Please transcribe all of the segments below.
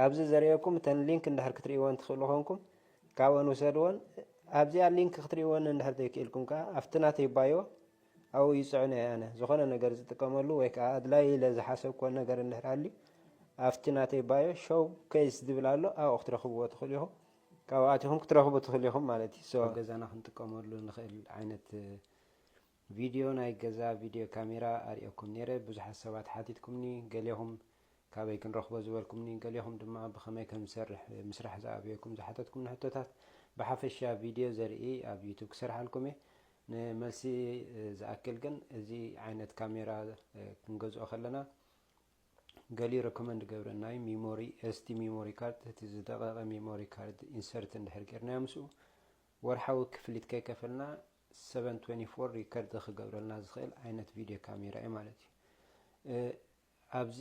ኣብዚ ዘርእየኩም እተን ሊንክ እንድሕር ክትርእይዎን ትኽእሉ ኮንኩም ካብኦን ውሰድዎን ኣብዚኣ ሊንክ ክትርእይዎን እንድሕር ዘይክኢልኩም ከዓ ኣብቲ ናተይ ባዮ ኣብኡ ይፅዕኖ እየ ኣነ ዝኾነ ነገር ዝጥቀመሉ ወይ ከዓ ኣድላይ ኢለ ዝሓሰብክዎ ነገር እንድሕር ኣልዩ ኣብቲ ናተይ ባዮ ሾው ኬስ ዝብል ኣሎ ኣብኡ ክትረኽብዎ ትኽእሉ ኢኹም ካብኣት ኢኹም ክትረኽቡ ትኽእሉ ኢኹም ማለት እዩ ገዛና ክንጥቀመሉ ንኽእል ዓይነት ቪድዮ ናይ ገዛ ቪድዮ ካሜራ ኣርእየኩም ኔረ ብዙሓት ሰባት ሓቲትኩምኒ ገሌኹም ካበይ ክንረኽቦ ዝበልኩምኒ ገሌኹም ድማ ብኸመይ ከም ዝሰርሕ ምስራሕ ዝኣብየኩም ዝሓተትኩምኒ ሕቶታት ብሓፈሻ ቪድዮ ዘርኢ ኣብ ዩቱብ ክሰርሓልኩም እየ ንመልሲ ዝኣክል ግን እዚ ዓይነት ካሜራ ክንገዝኦ ከለና ገሊኡ ረኮመንድ ገብረና እዩ ሚሞሪ ኤስዲ ሚሞሪ ካርድ እቲ ዝደቐቐ ሚሞሪ ካርድ ኢንሰርት እንድሕር ጌርናዮ ምስኡ ወርሓዊ ክፍሊት ከይከፈልና ሰቨን ትዌንቲ ፎር ሪከርድ ክገብረልና ዝኽእል ዓይነት ቪድዮ ካሜራ እዩ ማለት እዩ ኣብዚ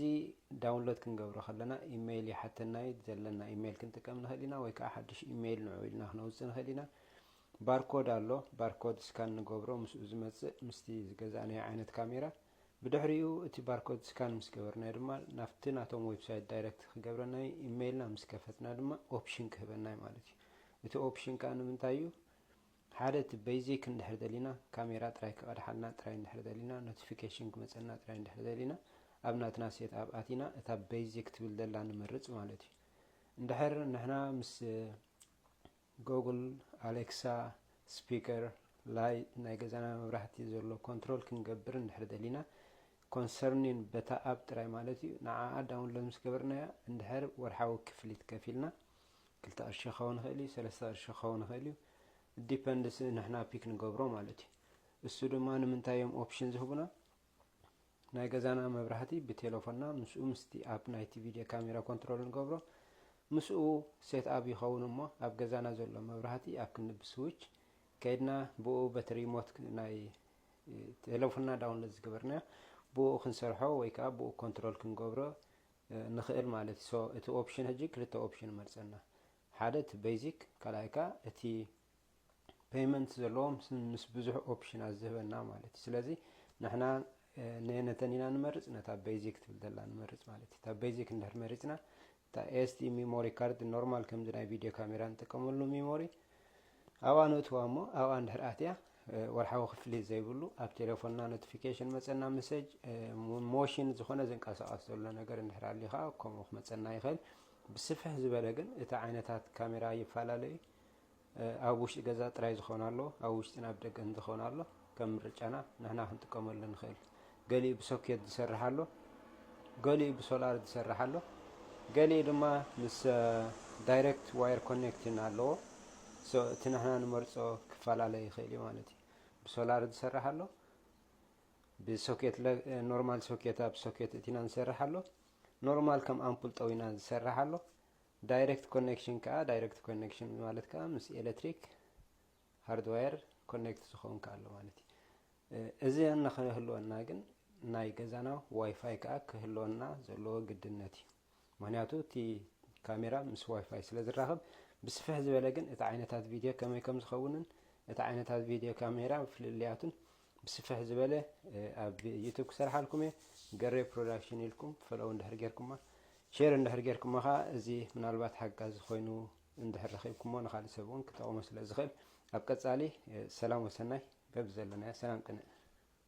ዳውንሎድ ክንገብሮ ከለና ኢሜይል ይሓተና እዩ ዘለና ኢሜይል ክንጥቀም ንኽእል ኢና ወይ ከዓ ሓድሽ ኢሜይል ንዑ ኢልና ክነውፅእ ንኽእል ኢና ባርኮድ ኣሎ ባርኮድ ስካን ንገብሮ ምስኡ ዝመፅእ ምስቲ ዝገዛእናዮ ዓይነት ካሜራ ብድሕሪኡ እቲ ባርኮድ ስካን ምስ ገበርናዮ ድማ ናብቲ ናቶም ዌብሳይት ዳይረክት ክገብረና እዩ ኢሜይልና ምስ ከፈትና ድማ ኦፕሽን ክህበና እዩ ማለት እዩ እቲ ኦፕሽን ከዓ ንምንታይ እዩ ሓደ እቲ በይዚክ እንድሕር ደሊና ካሜራ ጥራይ ክቀድሓልና ጥራይ እንድሕር ደሊና ኖቲፊኬሽን ክመጸና ጥራይ እንድሕር ደሊና ኣብ ናትና ሴት ኣፕ ኣቲና እታ በይዚክ ትብል ዘላ ንመርጽ ማለት እዩ እንድሕር ንሕና ምስ ጎጉል ኣሌክሳ ስፒከር ላይት ናይ ገዛና መብራህቲ ዘሎ ኮንትሮል ክንገብር እንድሕር ደሊና ኮንሰርኒን በታ ኣፕ ጥራይ ማለት እዩ ንዓኣ ዳውንሎድ ምስ ገበርናያ እንድሕር ወርሓዊ ክፍሊት ከፊልና ክልተ ቅርሺ ክኸውን ይኽእል እዩ ሰለስተ ቅርሺ ክኸውን ይኽእል እዩ it depends ንሕና ፒክ ንገብሮ ማለት እዩ እሱ ድማ ንምንታይ እዮም ኦፕሽን ዝህቡና ናይ ገዛና መብራህቲ ብቴሌፎንና ምስኡ ምስቲ ኣብ ናይቲ ቪድዮ ካሜራ ኮንትሮል ንገብሮ ምስኡ ሴት ኣብ ይኸውን እሞ ኣብ ገዛና ዘሎ መብራህቲ ኣብ ክንዲ ብስዊች ከይድና ብኡ በቲ ሪሞት ናይ ቴሌፎንና ዳውንሎድ ዝገበርና ብኡ ክንሰርሖ ወይ ከዓ ብኡ ኮንትሮል ክንገብሮ ንኽእል ማለት እዩ so እቲ ኦፕሽን ሕጂ ክልተ ኦፕሽን መርጸና ሓደ እቲ ቤዚክ ካልኣይ ከኣ እቲ ፔይመንት ዘለዎም ምስ ብዙሕ ኦፕሽናት ዝህበና ማለት እዩ ስለዚ ንሕና ነየነተን ኢና ንመርፅ ነታ ቤዚክ ትብል ዘላ ንመርፅ ማለት እዩ እታ ቤዚክ እንድሕር መሪፅና እታ ኤስዲ ሚሞሪ ካርድ ኖርማል ከምዚ ናይ ቪድዮ ካሜራ ንጥቀመሉ ሚሞሪ ኣብኣ ነእትዋ እሞ ኣብኣ እንድሕር ኣትያ ወርሓዊ ክፍሊት ዘይብሉ ኣብ ቴሌፎንና ኖቲፊኬሽን መፀና መሰጅ ሞሽን ዝኾነ ዝንቀሳቐስ ዘሎ ነገር እንድሕር ኣሊ ከዓ ከምኡ ክመፀና ይኽእል ብስፍሕ ዝበለ ግን እቲ ዓይነታት ካሜራ ይፈላለዩ ኣብ ውሽጢ ገዛ ጥራይ ዝኾን ኣሎ ኣብ ውሽጢን ኣብ ደገን ዝኾን ኣሎ ከም ምርጫና ንሕና ክንጥቀመሉ ንኽእል። ገሊኡ ብሶኬት ዝሰርሕ ኣሎ፣ ገሊኡ ብሶላር ዝሰርሕ ኣሎ፣ ገሊኡ ድማ ምስ ዳይሬክት ዋየር ኮኔክትን ኣለዎ። ሶ እቲ ንሕና ንመርጾ ክፈላለ ይኽእል እዩ ማለት እዩ። ብሶላር ዝሰርሕ ኣሎ፣ ብሶኬት ኖርማል ሶኬት ኣብ ሶኬት እቲና ዝሰርሕ ኣሎ፣ ኖርማል ከም ኣምፑል ጠዊና ዝሰርሕ ኣሎ። ዳይሬክት ኮኔክሽን ከዓ ዳይሬክት ኮኔክሽን ማለት ከዓ ምስ ኤሌክትሪክ ሃርድዋየር ኮኔክት ዝኸውን ከኣ ኣሎ ማለት እዩ። እዚ እንክህልወና ግን ናይ ገዛና ዋይፋይ ከኣ ክህልወና ዘለዎ ግድነት እዩ። ምክንያቱ እቲ ካሜራ ምስ ዋይፋይ ስለ ዝራኸብ ብስፍሕ ዝበለ ግን እቲ ዓይነታት ቪድዮ ከመይ ከም ዝኸውንን እቲ ዓይነታት ቪድዮ ካሜራ ፍልልያቱን ብስፍሕ ዝበለ ኣብ ዩቱብ ክሰርሓልኩም እየ ገሬ ፕሮዳክሽን ኢልኩም ፈለው እንድሕር ጌርኩማ ሼር እንድሕር ጌርኩማ ከዓ እዚ ምናልባት ሓጋዚ ኮይኑ እንድሕር ረኺብኩሞ ንኻልእ ሰብ እውን ክጠቕሞ ስለዝኽእል ኣብ ቀጻሊ ሰላም ወሰናይ በብዘለናዮ ሰላም ቅንእ